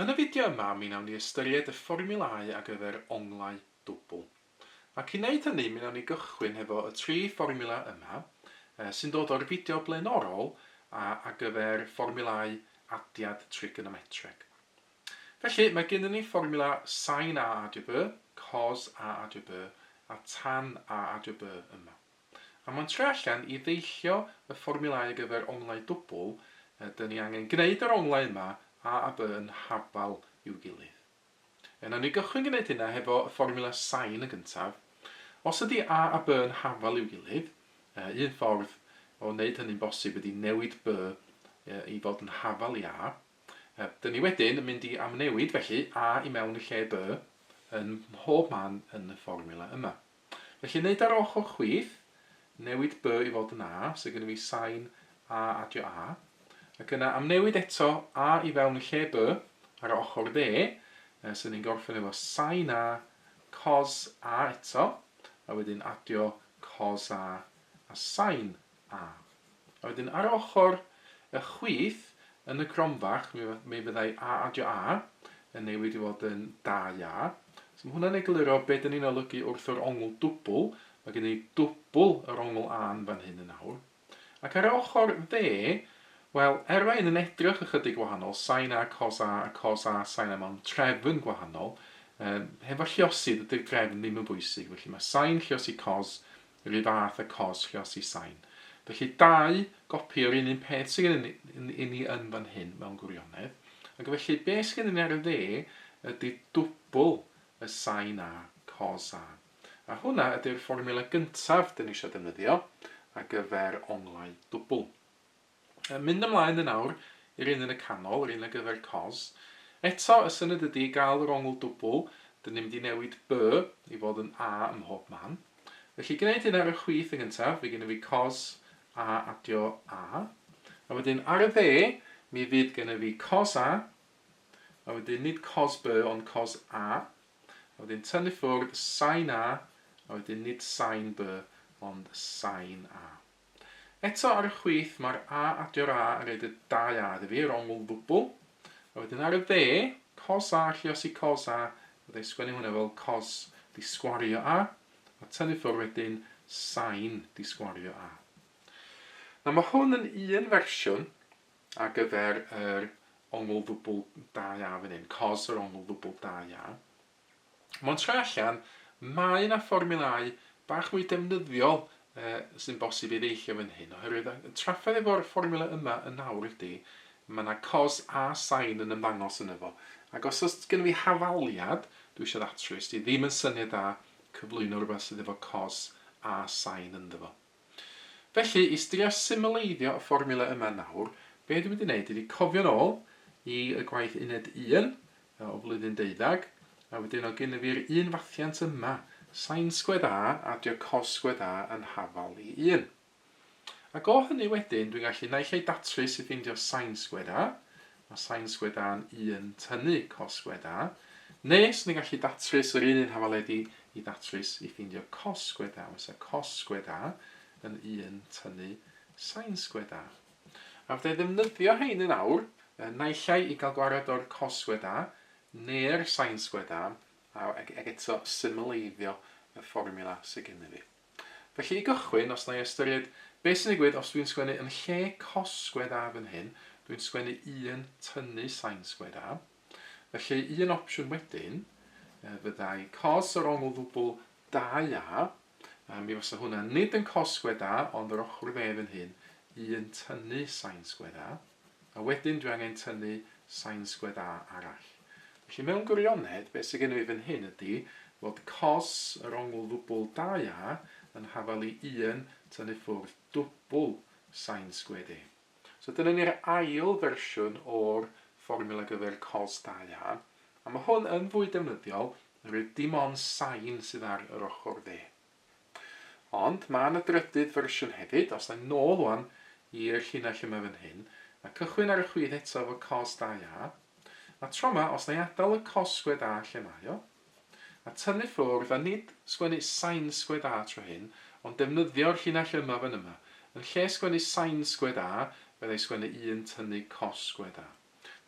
Yn y fideo yma mi wnawn ni ystyried y fformiwlau ar gyfer onglau dwbl. Ac i wneud hynny mi wnawn ni gychwyn hefo y tri fformiwla yma, sy'n dod o'r fideo blaenorol ar gyfer fformiwlau adiad trigonometreg. Felly, mae gennym ni fformiwla sin A adiw B, cos A adiw B a tan A adiw B yma. A mae'n trio allan i ddeillio y fformiwlau ar gyfer onglau dwbl, ydyn ni angen gwneud yr onglau yma a a b yn habal i'w gilydd. Er nawn ni gychwyn gwneud hynna hefo y fformiwla sain yn gyntaf, os ydy a a b yn habal i'w gilydd, un ffordd o wneud hynny'n bosib ydy newid b i fod yn habal i a, ydyn ni wedyn yn mynd i amnewid felly a i mewn yn lle b ym mhob man yn y fformiwla yma. Felly neud ar ochr chwith, newid by i fod yn a, sydd gennym fi sain a adio a, ac yna amnewid eto a i fewn yn lle by ar y ochr dde, yy so ni'n gorffen efo sain a cos a eto, a wedyn adio cos a a sain A. A wedyn ar ochr y chwith yn y cromfach mi mi fyddai A adio A yn newid i fod yn da ia. So ma' hwnna'n egluro be' 'dan ni'n olygu wrth yr ongl dwbwl, ma' gen i dwbwl yr ongl A yn fan hyn yn awr. Ac ar ochr dde, wel, er mae hyn yn edrych ychydig wahanol, sin A cos A a cos A sin A mewn trefn gwahanol, yy hefo lliosydd ydy'r drefn ddim yn bwysig, felly ma' sin lliosi cos Yr un fath â cosg llosi sain. Felly dau gopi o'r un un peth sydd gennym ni yn fan hyn mewn gwirionedd. Ac felly be sydd gennym ni ar y dde ydy dwbl y sain A, cos A. A hwnna ydy'r fformiwla gyntaf dyn ni eisiau defnyddio ar gyfer onglau dwbl. Yn mynd ymlaen yn awr i'r un yn y canol, yr un ar gyfer cos. Eto, y syniad ydi gael yr ongl dwbl, dyn ni'n mynd i newid by i fod yn a ym mhob man. Felly gwneud hyn ar y chwith yn gyntaf, fydd gennyf fi cos a adio a, a wedyn ar y dde mi fydd gennyf fi cos a, a wedyn nid cos by ond cos a, a wedyn tynnu ffwrdd sain a, a wedyn nid sain by ond sain a. Eto ar y chwith mae'r A adio'r A yn rhaid y dau A ddifyr, ongl ddwbl. A wedyn ar y dde, cos A lliosi cos A, fydda i sgwennu hwnna fel cos di sgwario A, a tynnu ffwr wedyn sain di sgwario A. Nawr mae hwn yn un fersiwn ar gyfer yr ongl ddwbl dau A fan hyn, cos yr ongl ddwbl dau A. Mond tra allan, mae yna fformiwlau bach mwy defnyddiol sy'n bosib ei ddeillio fan hyn, oherwydd y trafferth efo'r fformiwla yma yn awr ydy, mae yna cos a sain yn ymddangos yn efo, ac os oes gen i fi hafaliad, dwi eisiau ddatrys, di ddim yn syniad da cyflwyno rhywbeth sydd efo cos a sain ynddo fo. Felly, i drio symleiddio y fformiwla yma nawr, be dwi mynd i wneud ydi cofio'n ôl i y gwaith uned un o flwyddyn deuddag, a wedyn o gyn yfi'r un fathiant yma, sin sgwed A adio cos sgwed A yn hafal i un. Ac o hynny wedyn, dwi'n gallu naill ai datrys i ffeindio sin sgwed A, Mae sain sgwedâ'n un tynnu cos sgwedâ, nes ni'n gallu datrys yr un un hafaledi i ddatrys i ffeindio cos sgwedâ. Mae sain cos sgwedâ yn un tynnu sain sgwedâ. A fydda i'n ddefnyddio hein yn awr, naill ai i gael gwared o'r cos sgwedâ neu'r sain sgwedâ, ac eto symleiddio y fformiwla sydd gennym fi. Felly i gychwyn, os na i ystyried beth sy'n digwydd os dwi'n sgwennu yn lle cos sgwed A fan hyn, dwi'n sgwennu un tynnu sain sgwed A. Felly un opsiwn wedyn fyddai cos yr ongl ddwbl 2A, a mi fysa hwnna nid yn cos sgwed A ond yr ochr dde fan hyn, un tynnu sain sgwed A. a wedyn dwi angen tynnu sain sgwed A arall. Felly mewn gwirionedd, beth sydd gennyf fi fan hyn ydy fod cos yr ongl ddwbl 2A yn hafal i 1 tynnu ffwrdd dwbl sain sgwed A. So dyna ni'r ail fersiwn o'r fformiwla ar gyfer cos 2A, a mae hwn yn fwy defnyddiol oherwydd dim ond sain sydd ar yr ochr dde. Ond ma' 'na drydydd fersiwn hefyd, os 'na i nôl ŵan i'r llinell yma fan hyn, a cychwyn ar y chwith eto efo cos 2A, a tro 'ma, os 'na i adal y cos sgwêr 'A' lle mae o, a tynnu ffwrdd, a nid sgwennu sain sgwêr 'A' tro hyn, ond defnyddio'r llinell yma fan yma, yn lle sgwennu sain sgwêr 'A', fydda i sgwennu un tynnu cos sgwêr 'A'.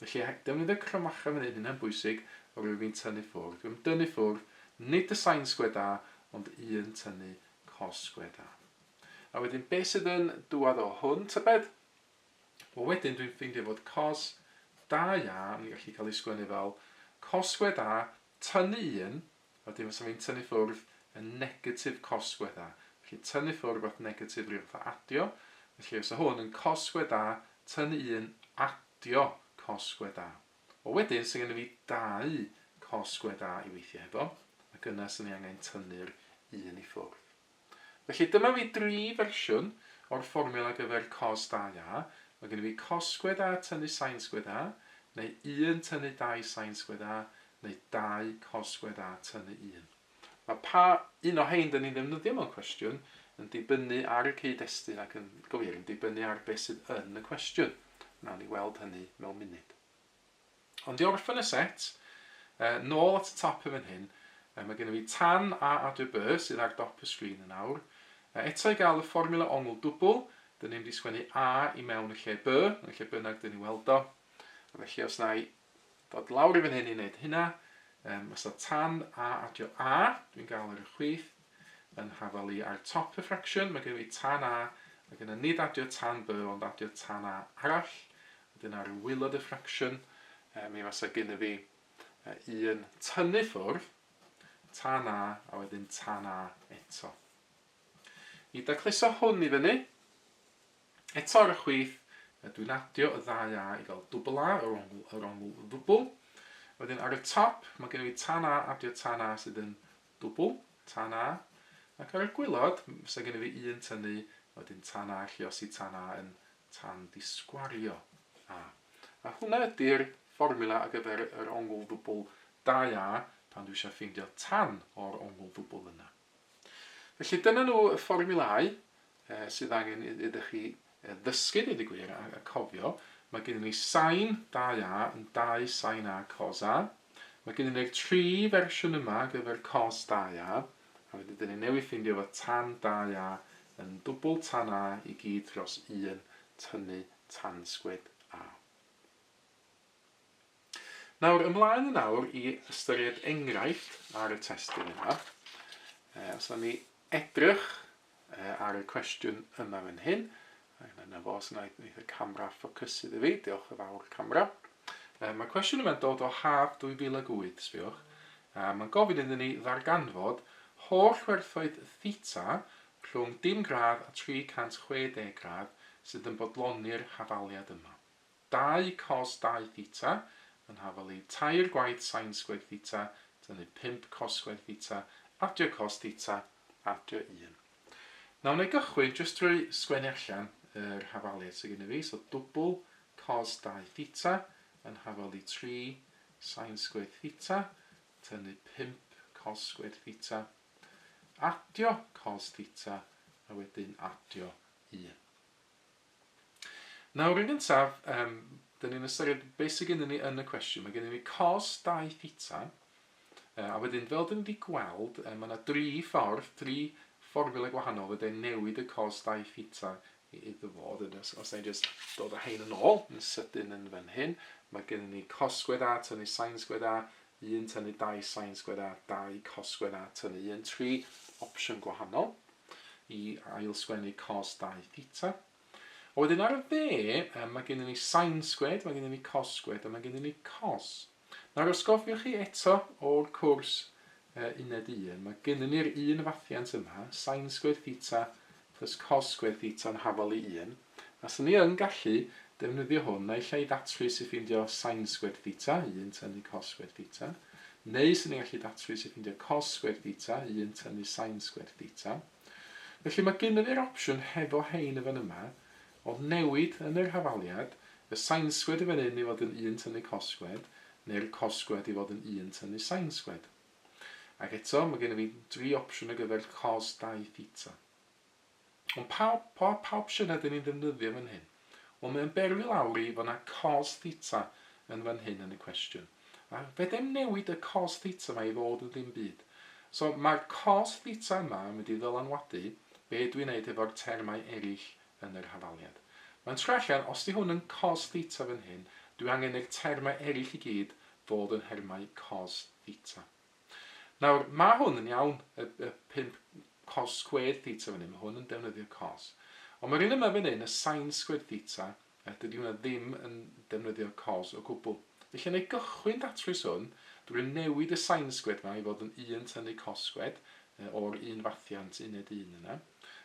Felly, er defnyddio'r cromfacha fan hyn, hynna'n bwysig, rwyf i'n tynnu ffwrdd, rwyf i'n dynnu ffwrdd, nid y sain sgwêr da, ond un tynnu cos sgwêr da. A wedyn, beth sydd yn dŵad o hwn, tybed? Wel, wedyn dwi'n ffeindio fod cos da ia, yn gallu cael ei sgwennu fel cos sgwêr da, tynnu un, Wedyn fysa fi'n tynnu ffwrdd y negatif cosgwe da. Felly tynnu ffwrdd at negatif ryw fath o adio. Felly fysa hwn yn cosgwe da tynnu un adio cosgwe da. Wel wedyn, sy'n gennyf fi dau cosgwe da i weithio hefo, ac yna sy'n ni angen tynnu'r un i ffwrdd. Felly dyma fi dri fersiwn o'r fformiwla ar gyfer cos 2a, mae gennyf fi cos sgwedd a tynnu sain sgwedd a, neu 1 tynnu 2 sain sgwedd a, neu 2 cos sgwedd a tynnu 1. Mae pa un o hein 'da ni'n ddefnyddio mewn cwestiwn yn dibynnu ar y cyd-destun ac yn glir yn dibynnu ar beth sydd yn y cwestiwn. Wnawn ni weld hynny mewn munud. Ond i orffen y set, nôl at y top yn fan hyn, mae gennym ni Tan a Adre Byrr sydd ar dop y sgrin yn awr. Eto i gael y fformiwla ongl dwbl, dyn ni mynd i sgwennu A i mewn y lle By, yn lle bynnag dyn ni weld o. A felly os na i ddod lawr i fan hyn i wneud hynna, mae sa Tan a adio A, dwi'n gael ar y chwith, Yn nhafal i ar top y ffracsiwn mae gennym ni tan A, mae gennym nid adio tan B ond adio tan A arall. Wedyn ar waelod y ffracsiwn mi fasa gennym fi un tynnu ffwrdd, tan A a wedyn tan A eto. I dacluso hwn i fyny, eto ar y chwith dwi'n adio y ddau A i gael dwbl A, yr ongl, yr ongl ddwbl. Wedyn ar y top mae gennym fi tan A adio tan A sydd yn Dwbl, tan A, ac ar y gwaelod fysa gennyf fi un tynnu a wedyn tan A alluosi tan A yn tan disgwario A. A hwnna ydy'r fformiwla ar gyfer yr ongl ddwbl 2A pan dwi eisiau ffeindio tan o'r ongl ddwbl yna. Felly dyna nhw y fformiwlau sydd angen iddo chi ddysgu, deud y gwir, a cofio, mae gennyn ni Sain 2A yn dau Sain A Cos A. Mae gennyn ni'r tri fersiwn yma ar gyfer Cos 2A, a wedyn dyn ni newydd ffeindio fod Tan 2A yn dwbl Tan A i gyd dros un tynnu tansgwyd A. Nawr, ymlaen yn awr i ystyried enghraifft ar y testun yma. Os na ni edrych ar y cwestiwn yma fan hyn, yna fo, os yna wneud y camera ffocysu iddi fi, diolch yn fawr camera. Mae cwestiwn yma'n dod o haf 2008, sbiwch, a mae'n gofyn iddyn ni ddarganfod holl werthoedd theta rhwng dim gradd a 360 gradd sydd yn bodloni'r hafaliad yma. 2 cos 2 theta, yn hafal i tair gwaith sain sgwêr theta, tynnu 5 cos sgwêr theta, adio cos theta, adio 1. Nawr wna i gychwyn jyst drwy sgwennu allan yr hafaliad sydd gennyf fi, so dwbl cos 2 theta, yn hafal i 3 sain sgwêr theta, tynnu 5 cos sgwêr theta, adio cos theta, a wedyn adio 1. Nawr yn gyntaf, yym, dyn ni'n ystyried beth sydd gennym ni yn y cwestiwn. Mae gennym ni cos 2 theta, a wedyn fel dyn ni wedi gweld, mae yna dri ffordd, dri fformula gwahanol fydde newid y cos 2 theta i iddo fo. Dyn, os, os ni'n just dod â hein yn ôl, yn sydyn yn fan hyn, mae gennym ni cos sgwed a tynnu sain sgwed a, 1 tynnu 2 sain sgwêr a 2 cos sgwêr a tynnu 1 tri opsiwn gwahanol i ailsgwennu cos 2 theta. A wedyn ar y dde, mae gennym ni sain sgwêr, mae gennym ni cos sgwêr a mae gennym ni cos. Nawr os gofiwch chi eto o'r cwrs uh, uned 1, mae gennym ni'r un fathiant yma, sain sgwêr theta plus cos sgwêr theta yn hafal i 1. Faswn i yn gallu defnyddio hwn naill ai i ddatrys i ffeindio sain sgwêr theta, 1 tynnu cos sgwêr theta, neu 'swn i'n gallu datrys i ffeindio cos sgwêr theta, 1 tynnu sain sgwêr theta. Felly mae gynno fi'r opsiwn hefo rhein yn fan yma, o newid yn yr hafaliad, y sain sgwêr i fan hyn i fod yn 1 tynnu cos sgwêr, neu'r cos sgwêr i fod yn 1 tynnu sain sgwêr. Ac eto, mae gynno fi dri opsiwn ar gyfer cos 2 theta. Ond pawb, pa, pa opsiwn ydyn ni'n ddefnyddio fan hyn? Wel, mae o'n berwi lawr i fod 'na cos theta yn fan hyn yn y cwestiwn. A fedrai'm newid y cos theta 'ma i fod yn ddim byd. So, mae'r cos theta yma yn mynd i ddylanwadu be dwi'n neud efo'r termau eraill yn yr hafaliad. Mae'n troi allan, os 'di hwn yn cos theta fan hyn, dwi angen i'r termau eraill i gyd fod yn nhermau cos theta. Nawr, mae hwn yn iawn, y y pump cos squared theta fan hyn, mae hwn yn defnyddio cos. Ond mae'r un yma fan hyn, y sine squared theta, yy dydy hwnna ddim yn defnyddio cos o gwbl. Felly, wna i gychwyn datrys hwn drwy newid y sine squared yma i fod yn un tynnu cos squared, yy o'r un fathiant uned un yna.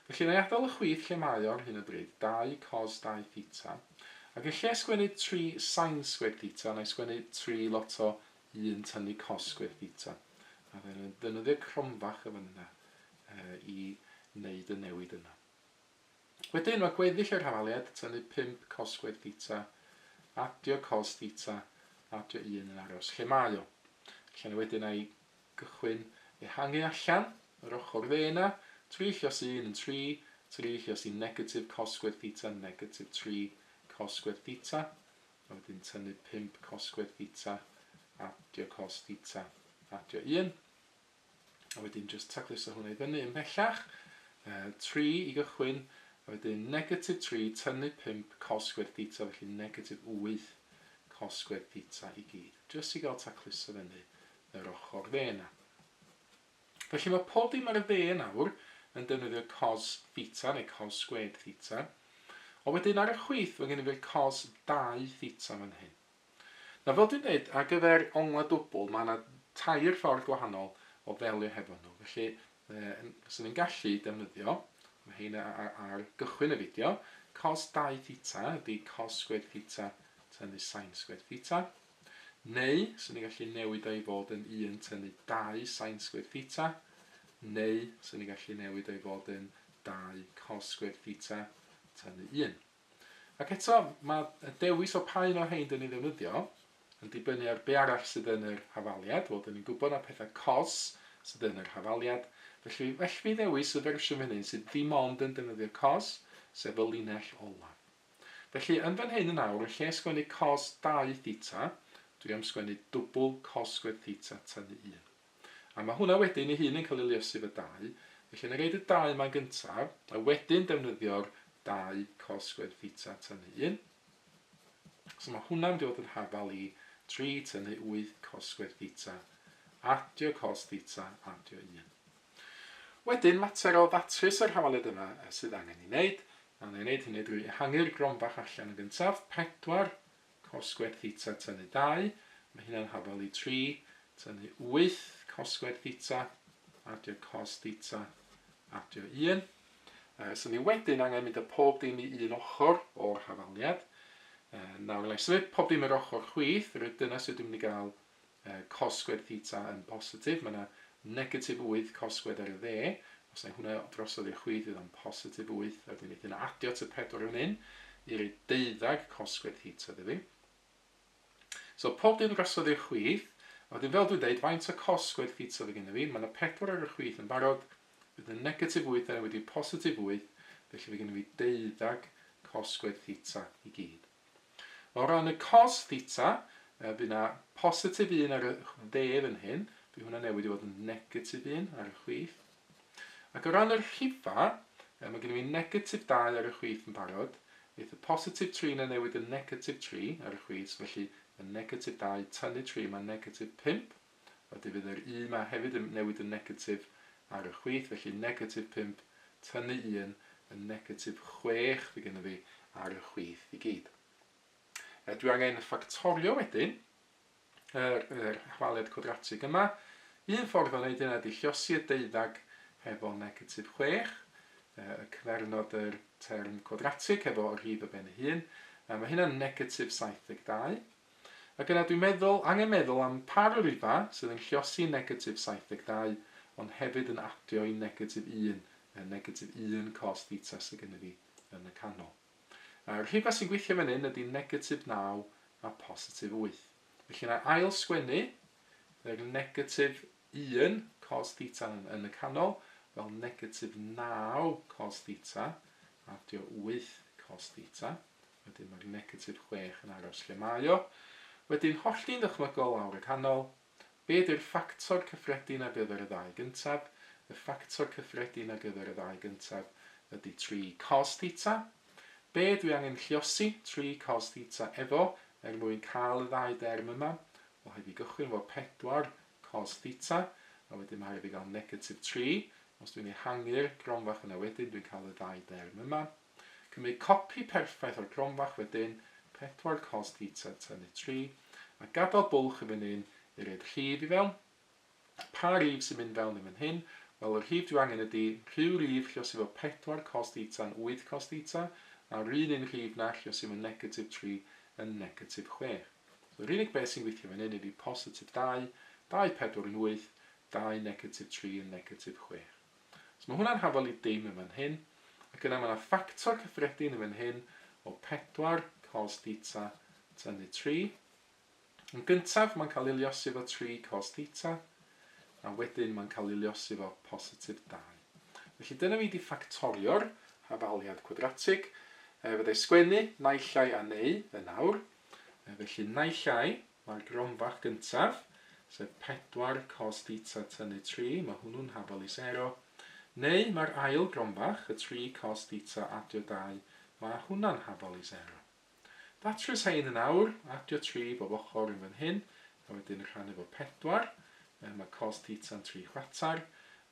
Felly, wna i adael y chwith lle mae o ar hyn o bryd, dau cos dau theta. Ac yn lle sgwennu tri sine squared theta, wna i sgwennu tri lot o yn tynnu cosb i'r bita a fyddai'n defnyddio cromfach y fynydda i wneud y newid yna. Wedyn mae gweddill y rhanfaliad, tynnu pump cosb gwedd bita, adio cosb bita, adio un yn aros lle mae o. Lle na wedyn a'i gychwyn ehangu allan, yr ochr dde yna, trill os un yn tri, trill os un negatif cosb gwedd bita, negatif tri cosb gwedd bita, A wedyn tynnu pump cosgwedd theta, adio cos theta, adio un. A wedyn jyst tacluso hwnna i fyny ymhellach. Uh, 3 i gychwyn, a wedyn negatif 3 tynnu pump cosgwedd theta, felly negatif 8 cosgwedd theta i gyd. Jyst i gael tacluso fyny yr ochr dde yna. Felly mae pob dim ar y dde nawr yn defnyddio cos theta neu cos sgwêr theta. Ond wedyn ar y chwith mae gennym ni'r cos dau theta fan hyn. Nawr fel dwi'n dweud, ar gyfer onglau dwbl mae yna tair ffordd gwahanol o ddelio hefo nhw. Felly fyswn i'n gallu defnyddio, mae hein ar gychwyn y fideo, cos dau theta ydy cos sgwêr theta tynnu sain sgwêr theta. Neu, 'swn i'n gallu newid o i fod yn un tynnu dau sain sgwêr theta. Neu, 'swn i'n gallu newid o i fod yn dau cos sgwêr theta tynnu un. Ac eto, mae y dewis o pa un o'r rhain dyn ni'n ddefnyddio yn dibynnu ar be arall sydd yn yr hafaliad. Wel, dyn ni'n gwybod na pethau cos sydd yn yr hafaliad. Felly, felly mi ddewis y fersiwn fan hyn sydd ddim ond yn defnyddio cos, sef y linell olaf. Felly, yn fan hyn yn awr, yn lle sgwennu cos dau theta, dwi am sgwennu dwbl cos sgwêr theta tynnu un. A mae hwnna wedyn ei hun yn cael ei liosi efo dau, felly wna i roid y dau yma'n gyntaf, a wedyn defnyddio'r dau cos sgwêr theta tynnu un. So mae hwnna'n mynd i fod yn hafal i tri tynnu wyth cos sgwêr theta, adio cos theta, adio un. Wedyn, mater o ddatrys yr hawaliad yma sydd angen ei wneud. A wna i wneud hynny drwy ehangu'r grom bach allan yn gyntaf, pedwar, cos sgwêr theta tynnu dau, mae hynna'n hafal i tri, tynnu wyth, cos sgwêr theta, adio cos theta, adio un. Yy, so ni wedyn angen mynd â pob dim i un ochr o'r hafaliad. Yy, nawr, wna i symud pob dim i'r ochr chwith, reit, dyna sut dwi'n mynd i gael y cosgwedd theta yn bositif, mae yna negatif wyth cosgwedd ar y dde, os wna i hwnna drosodd i'r chwith fydd o'n positif wyth, a wedyn wneith hynna adio at y pedwar fan hyn i roi deuddag cosgwedd theta iddo fi. So pob dim drosodd i'r chwith, a wedyn fel dwi'n dweud, faint o cosgwedd theta fy gennym fi, mae yna pedwar ar y chwith yn barod, bydd y negatif wyth yna wedi positif wyth, felly fy gennym fi deuddag cosgwedd theta i gyd. O ran y cos theta, yy by' 'na positif un ar y dde fan hyn, by' hwnna newid i fod yn negatif un ar y chwith. Ac o ran yr rhifa, yy ma' gynno fi negatif dau ar y chwith yn barod, neith y positif tri 'na newid yn negatif tri ar y chwith, felly ma' negatif dau tynnu tri ma' negatif pump. a defyd yr u ma hefyd yn newid yn negatif ar y chwith, felly negatif pump tynnu un yn negatif chwech fydd gennyf fi ar y chwith i gyd. E, dwi angen ffactorio wedyn yr, yr hwaliad cwadratig yma. Un ffordd o wneud hynna ydy llosi y deuddag hefo negatif chwech, e, y cyfernod yr term cwadratig hefo rhif y ben ei hun, a mae hynna'n negatif 72. Ac yna dwi'n meddwl, angen meddwl am pa ryrfa sydd yn lluosi negatif 72, ond hefyd yn adio i negatif 1, y negatif 1 cos theta sydd gennyf fi yn y canol. Y rhifau sy'n gweithio fan hyn ydy negatif 9 a positif 8. Felly na ail sgwennu yr negatif 1 cos theta yn y canol fel negatif 9 cos theta adio 8 cos theta. Wedyn mae'r negatif chwech yn aros lle mae o. Wedyn hollti'n ddychmygol lawr y canol. Be ydy'r ffactor cyffredin ar gyfer y ddau gyntaf? Y ffactor cyffredin ar gyfer y ddau gyntaf ydy tri cos theta. Be dwi angen lluosi tri cos theta efo er mwyn cael y ddau derm yma? Wel, rhaid fi gychwyn efo pedwar cos theta, a wedyn mae rhaid fi gael negatif tri. Os dwi'n ehangu'r gronfa yna wedyn, dwi'n cael y ddau derm yma. Cymryd copi perffaith o'r gronfach wedyn, pedwar cost heater tynnu tri, a gadael bwlch i fan hyn i roi'r rhif i fewn. Pa rif sy'n mynd fewn i fan hyn? Wel y rhif dwi angen ydi rhyw rif lle sydd efo pedwar cost heater yn wyth cost heater, a'r un un rhif na lle sydd efo negatif tri yn negatif chwech. So yr unig beth sy'n gweithio fan hyn ydi positif dau, dau pedwar yn wyth, dau negatif tri yn negatif chwech. So mae hwnna'n hafal i dim yn fan hyn, ac yna mae yna ffactor cyffredin yn fan hyn o pedwar cos theta tynnu tri. Yn gyntaf mae'n cael ei liosi efo tri cos theta, a wedyn mae'n cael ei liosi efo positif dau. Felly dyna fi wedi ffactorio'r hafaliad cwadratig. E, fyddai sgwennu naill ai a neu yn awr. E, felly naill ai Mae'r gronfach gyntaf, sef pedwar cos dîta tynnu tri, mae hwnnw'n hafal i sero. Neu mae'r ail gronfach, y tri cos dîta adio dau, mae hwnna'n hafal i sero. Datrys rhein yn awr, adio tri bob ochr yn fan hyn, a wedyn rhannu fo pedwar, yy mae cos dîta'n tri chwarter,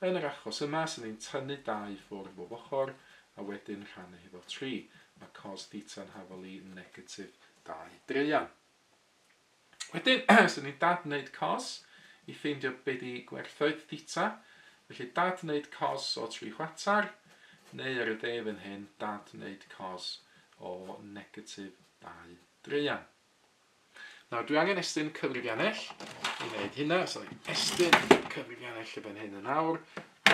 yn yr achos yma, so ni'n tynnu dau i ffwrdd bob ochr, a wedyn rhannu hi fo tri, mae cos dîta'n hafal i negatif dau draean. Wedyn, os ydy dad wneud cos i ffeindio be di gwerthoedd theta, felly dad wneud cos o tri chwatar, neu ar y de fan hyn, dad wneud cos o negatif dau dreian. Nawr, dwi angen estyn cyfrifiannell i wneud hynna, so ni'n estyn cyfrifiannell y fan hyn yn awr.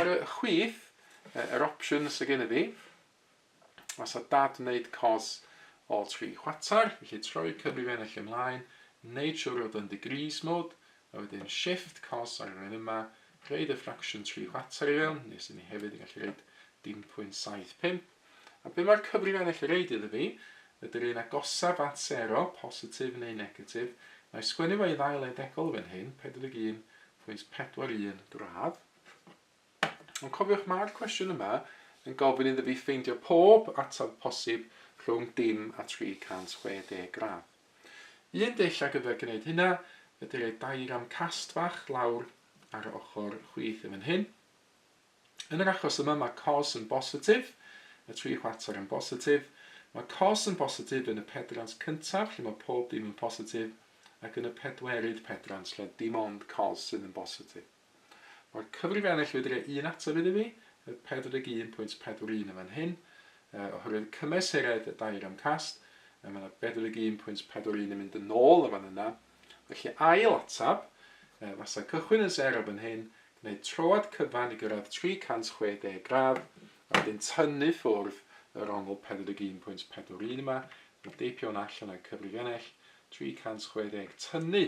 Ar y chwith, yr opsiwn sydd gen i fi, Os a dad wneud cos o tri chwater, felly troi cyfrif ennill ymlaen, wneud siwr fod yn degrees mode, a wedyn shift cos ar yr un yma, rhaid y fraction tri chwater i fewn, nes i ni hefyd yn gallu rhaid dim pwynt 75. A be mae'r cyfrif ennill yn reid iddo fi, ydy'r un agosaf at sero, positif neu negatif, na i sgwennu fo i ddau le degol fan hyn, 41.41 gradd, Ond cofiwch mae'r cwestiwn yma yn gofyn iddo fi ffeindio pob ateb posib rhwng dim a 360 gradd. Un dull ar gyfer gwneud hynna ydy rhoi diagram cast fach lawr ar yr ochr chwith yn fan hyn. Yn yr achos yma mae cos yn bositif, y tri chwarter yn bositif, mae cos yn bositif yn y pedrant cyntaf lle mae pob dim yn positif ac yn y pedwerydd pedrant lle dim ond cos sydd yn bositif. Mae'r cyfrif ennill wedi rhoi un ateb iddi fi, y 41.41 yn fan hyn, uh, oherwydd cymesuraeth y dair am cast, uh, mae yna 41.41 yn mynd yn ôl yn fan yna. Felly ail ateb, uh, fasa cychwyn yn ser o fan hyn, gwneud troad cyfan i gyrraedd 360 gradd, a wedyn tynnu ffwrdd yr ongl 41.41 yma, a deipio hwnna allan o'r cyfrif ennill, 360 tynnu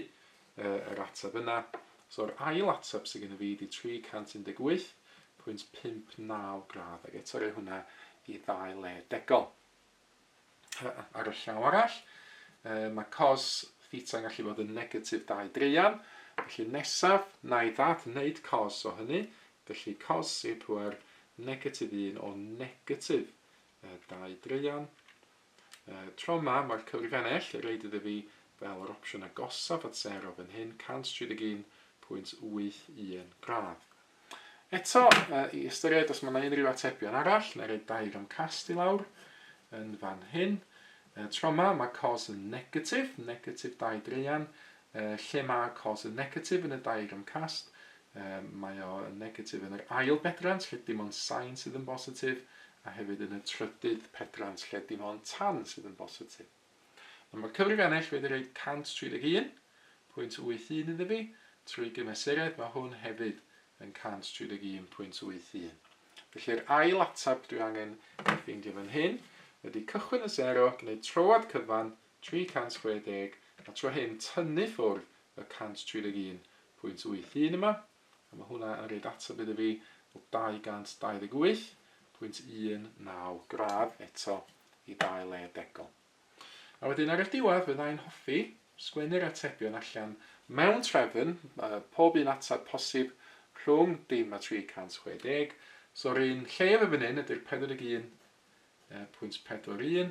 yy yr ateb yna. So'r ail ateb sydd gennyf fi ydi 318.59 gradd ac eto roi hwnna i ddau le degol. Ar y llaw arall, yy mae cos theta yn gallu bod yn negatif 2 dreian, felly nesaf na i ddad wneud cos o hynny, felly cos i'r pŵer negatif 1 o negatif 2 dreian, Y tro ma, mae'r cyfrif ennill, y reid iddi fi, fel yr opsiwn agosaf at sero fan hyn, 131.81 gradd. Eto, i ystyried os mae yna unrhyw atebion arall, neu roi dair am cast i lawr yn fan hyn. Y tro ma, mae cos yn negatif, negatif dau dreian, lle mae cos yn negatif yn y dair am cast, mae o yn negatif yn yr ail bedrant, lle dim ond sain sydd yn bositif, a hefyd yn y trydydd pedrant lle dim ond tan sydd yn bositif. Nawr mae'r cyfrif ennill wedi rhoi 131 pwynt 81 iddo fi, trwy gymesuredd mae hwn hefyd yn 131 pwynt 81. Felly'r ail atab dwi angen ei ffeindio fan hyn, wedi cychwyn y 0, gwneud troad cyfan 360 a tro hyn tynnu ffwrdd y 131 pwynt 81 yma, A mae hwnna yn rhoid ateb iddo fi o 228.19 gradd eto i ddau le degol. A wedyn ar y diwedd fydda i'n hoffi sgwennu'r atebion allan mewn trefn, pob un ateb posib rhwng dim a 360. So'r un llef yn fan hyn ydy'r 41.41.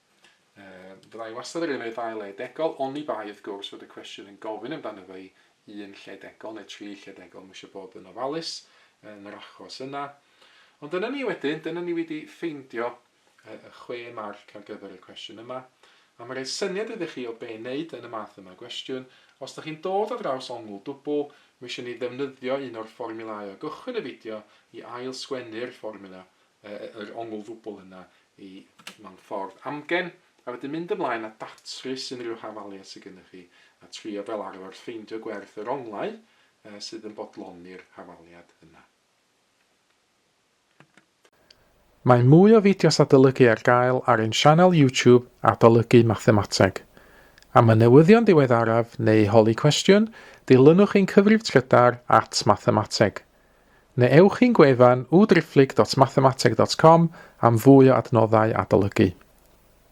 Yy, fydda i wastad yn yfed ail le degol, oni bai wrth gwrs fod y cwestiwn yn gofyn amdano fo i un lle degol neu tri lle degol, ma' isio bod yn ofalus yn yr achos yna. Ond dyna ni wedyn, dyna ni wedi ffeindio yy y chwe marc ar gyfer y cwestiwn yma. A ma' rhoi syniad iddo chi o be' i neud yn y math yma o gwestiwn, os dych chi'n dod ar draws ongl dwbwl, ma' isio ni ddefnyddio un o'r fformiwlâu o gychwyn y fideo i ail sgwennu'r fformiwla yr ongl ddwbl yna i mewn ffordd amgen, a wedyn mynd ymlaen a datrys unrhyw hafaliad sydd gennych chi, a trio fel arfer ffeindio gwerth yr onglau sydd yn bodloni'r hafaliad yna. Mae mwy o fideos adolygu ar gael ar ein sianel YouTube Adolygu Mathemateg. Am y newyddion diweddaraf neu holi cwestiwn, dilynwch ein cyfrif trydar at Mathemateg. Neu ewch i'n gwefan www.driphlyg.mathemateg.com am fwy o adnoddau adolygu.